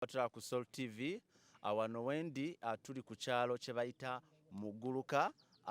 Batula ku Sol TV awano wendi tuli ku kyalo kye bayita Muguluka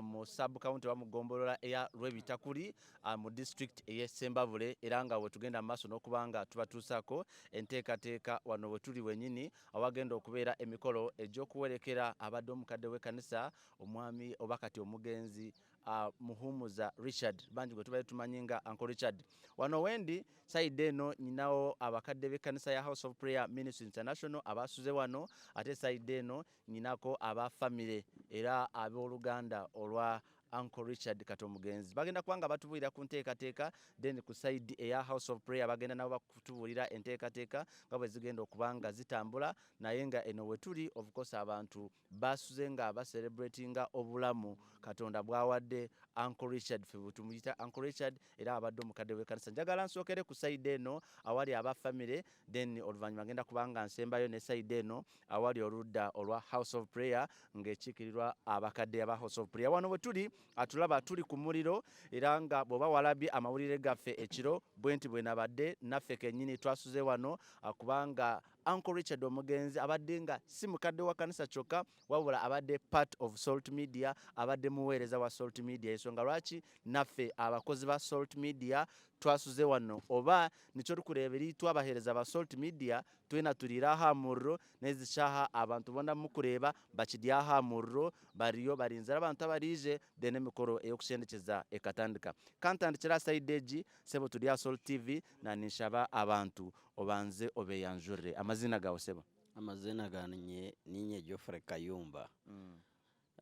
mu sub county wa mugombolola eya Lwebitakuli mu district eye Sembabule era nga wetugenda maaso n'okubanga tubatuusako enteekateeka wano wetuli wenyini awagenda okubeera emikolo egy'okuwerekera abadde omukadde w'ekkanisa omwami oba kati omugenzi uh, muhumuza richard bangi gwe tubadde tumanyi nga uncle richard wano wendi sayidde eno nyinawo abakadde b'ekkanisa ya house of prayer ministry international abaasuze wano ate sayidde eno nyinako aba famire era ab'oluganda olwa uncle richard kato mugenzi bagenda kuba nga batubuulira ku nteekateeka then ku side eya house of prayer bagenda nabo bakutubuulira enteekateeka nga bwe zigenda okuba nga zitambula naye nga eno wetuli of course abantu Baasuze nga ba celebratinga obulamu Katonda bwawadde Uncle Richard fe tumuyita Uncle Richard era abadde omukadde w'ekkanisa. Njagala nsookere ku sayidi eno awali aba famire then oluvannyuma ngenda kubanga nsembayo ne sayidi eno awali oludda olwa House of Prayer ng'ekiikirirwa abakadde aba House of Prayer. Wano we tuli atulaba tuli ku muliro era nga bw'oba walabye amawulire gaffe ekiro bwe nti bwe nabadde naffe kennyini twasuze wano kubanga Uncle Richard omugenzi abadde nga si mukadde wa kanisa kyokka wabula abadde part of Salt Media, abadde muweereza wa Salt Media. Ensonga lwaki naffe abakozi ba Salt Media twasuze wano oba nikyo tukureeberi twabaheereza ba Salt Media twena tuliira aha muriro nezikyaha abantu bona mukureeba bakiri aha muriro bariyo barinzira abantu abariije then emikoro eyokushendekyeza ekatandika kantandikira saidi egi sebo turi aha Salt TV Nanisaba abantu obanze obeyanjurire amazina gawe sebo. Amazina ganye ninye Geoffrey Kayumba mm.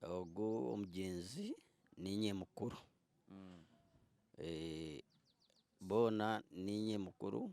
ogu omugenzi ninye mukuru mm. e, bona ninye mukuru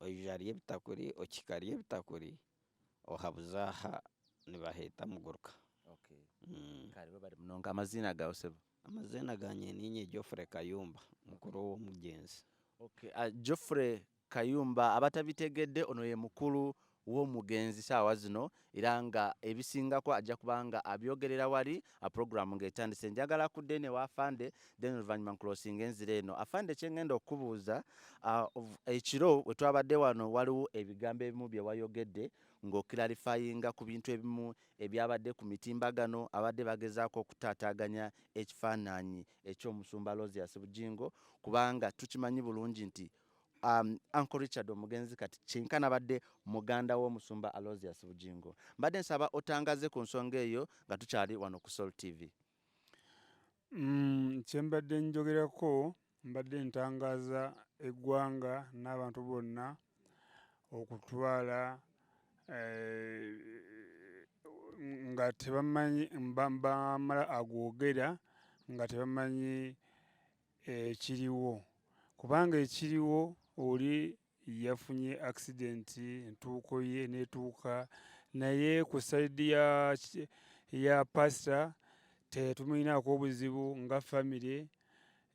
oijarya ebitakuri okikarya ebitakuri ohabuza aha nibaheta muguruka okay. mm. karibu bari munonga amazina gawe sebo amazina ganye ninye Geoffrey Kayumba mukuru w'omugenzi okay. uh, Geoffrey Kayumba abatabitegedde ono ye mukulu w'omugenzi saawa zino era nga ebisingako ajja kubanga abyogerera wali a program nga etandise njagala ku dene wa afande then oluvanyuma nkulosinga enzira eno afande kyengenda okukubuuza ekiro we twabadde wano waliwo ebigambo ebimu bye wayogedde ng'okilarifayinga ku bintu ebimu ebyabadde ku mitimbagano abadde bagezaako okutaataaganya ekifaananyi eky'omusumba losias bujingo kubanga tukimanyi bulungi nti um, uncle richard omugenzi kati kyenka nabadde muganda w'omusumba alosius bujingo mbadde nsaba otangaze ku nsonga eyo nga tukyali wano ku sol tv mm, kyembadde njogerako mbadde ntangaza eggwanga n'abantu bonna okutwala eh, nga tebamanyi bamala agwogera nga tebamanyi ekiriwo kubanga ekiriwo oli yafunye accident entuuko ye netuuka naye ku saidi ya, ya pasta tetumulinaako obuzibu nga famire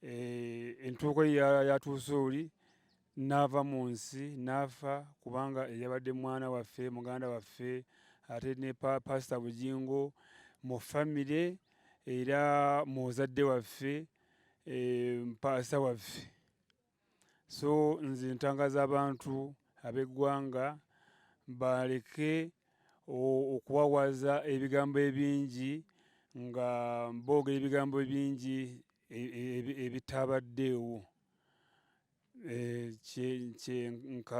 e, entuuko ye yatuuse oli n'ava mu nsi n'afa kubanga eyabadde mwana waffe muganda waffe ate ne pasita bugingo mu famire era muzadde waffe eh, mpaasa waffe so nze ntangaza abantu ab'eggwanga baleke okuwawaza ebigambo ebingi nga boogera ebigambo bingi e, e, e, ebitabaddeewo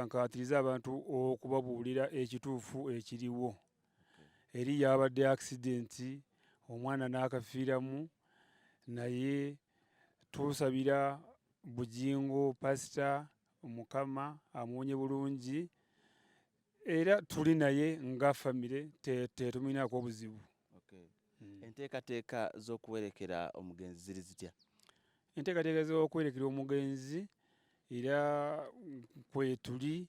nkaatiriza abantu okubabuulira ekituufu ekiriwo eri yabadde accident omwana n'akafiiramu naye tusabira bujingo pasita mukama amuwonye bulungi era tuli naye nga famire tetuminaako obuzibu hmm. enteekateeka z'okuwerekera omugenzi ziri zitya enteekateeka z'okuwerekera omugenzi era kwetuli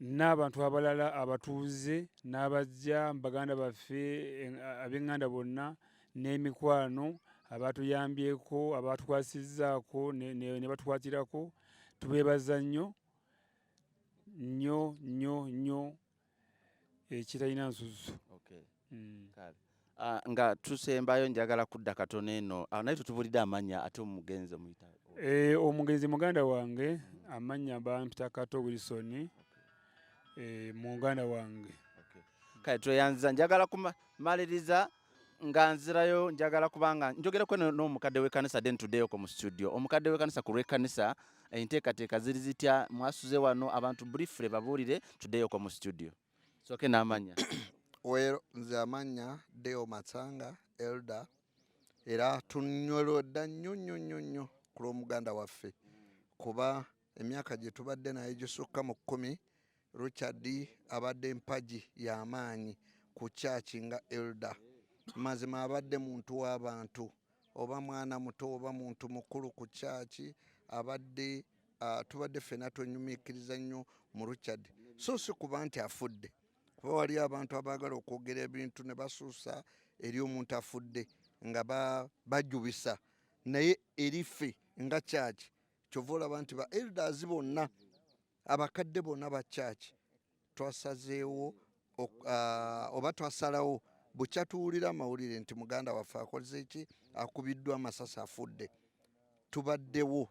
n'abantu abalala abatuuze n'abajja baganda baffe ab'eŋŋanda bonna n'emikwano abaatuyambyeko abaatukwasizzaako ne batukwatirako tubeebaza nnyo nnyo nnyo nnyo ekitalina nsusu mm. Uh, nga tusembayo njagala kudda katono eno uh, naye tutubulidde amanya ate omugenzi omuyita e, eh, omugenzi muganda wange mm. amanya bampita kato wilson okay. e, muganda wange okay. kale tweyanziza njagala kumaliriza nga nzirayo njagala kubanga njogera kweno n'omukadde w'ekkanisa den tuddeyo ko mu studio omukadde w'ekkanisa ku lw'ekkanisa enteekateeka ziri zitya mwasuze wano abantu briefly babuulire tuddeyo ko mu studio soke n'amannya well nze amannya deo matsanga elder era tunyolodda nnyo nnyo nnyo nnyo ku lw'omuganda waffe kuba emyaka gye tubadde naye gisukka mu kkumi richard abadde empagi y'amaanyi ku kyaki nga elda mazima abadde muntu w'abantu oba mwana muto oba muntu mukulu ku kyaki abadde ah, tubadde ffena twenyumikiriza nnyo mu richard so si kuba nti afudde kuba waliyo abantu abaagala okwogera ebintu ne basuusa eri omuntu afudde nga bajubisa naye erife nga kyaki kyova olaba nti ba elders bonna abakadde bonna ba kyaki Twasazeewo oba twasalawo bukya tuwulira amawulire nti muganda waffe akoze eki akubiddwa amasasi afudde tubaddewo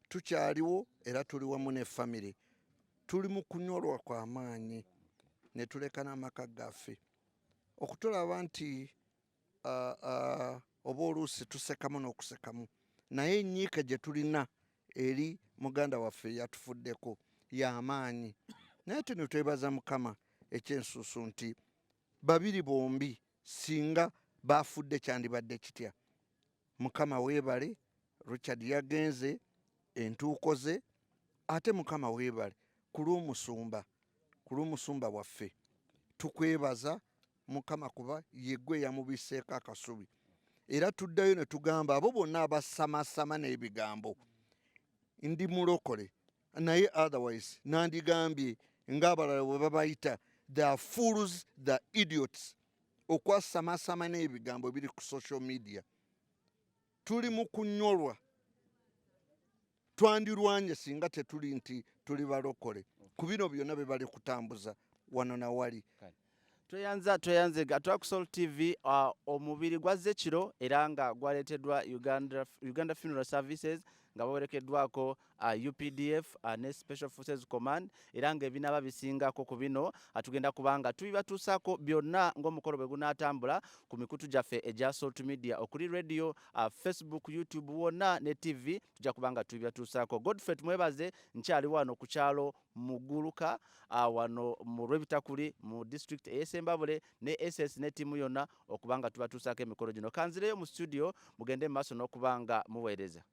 tukyaliwo era tuli wamu ne famire tuli mu kunyolwa kwa maanyi ne tuleka n'amaka gaffe okutulaba nti uh, uh, oba oluusi tusekamu n'okusekamu naye enyiika gye tulina eri muganda waffe yatufuddeko y'amaanyi naye tino twebaza mukama ekyensusu nti babiri bombi singa baafudde kyandibadde kitya mukama weebale richard yagenze entuuko ze ate mukama weebale ku lw'omusumba ku lw'omusumba waffe tukwebaza mukama kuba yegwe yamubiseeko akasubi era tuddayo ne tugamba abo bonna abasamasama n'ebigambo ndi mulokole naye otherwise nandigambye ng'abalala bwe babayita the fools the idiots okwasamasama n'ebigambo biri ku social media tuli mu kunyolwa twandirwanye singa tetuli nti tuli balokole ku bino byonna bye bali kutambuza wano na wali tweyanza tweyanze gatwak sol tv uh, omubiri gwazze kiro era nga gwaleeteddwa uganda, uganda funeral services nga bawerekeddwako uh, updf uh, ne special forces command era nga ebinaba bisingako ku bino atugenda uh, kubanga tubibatuusaako byonna ng'omukolo bwe gunaatambula ku mikutu gyaffe egya salt media okuli radio uh, facebook youtube wonna ne tv tujja kubanga tubibatuusaako godfrey tumwebaze nkyali wano ku kyalo muguluka ah, wano mu lwebitakuli mu district eyesembabule ne ss ne tiimu yonna okubanga tubatuusaako emikolo gino kanzireyo mu studio mugende mu maaso n'okubanga muweereza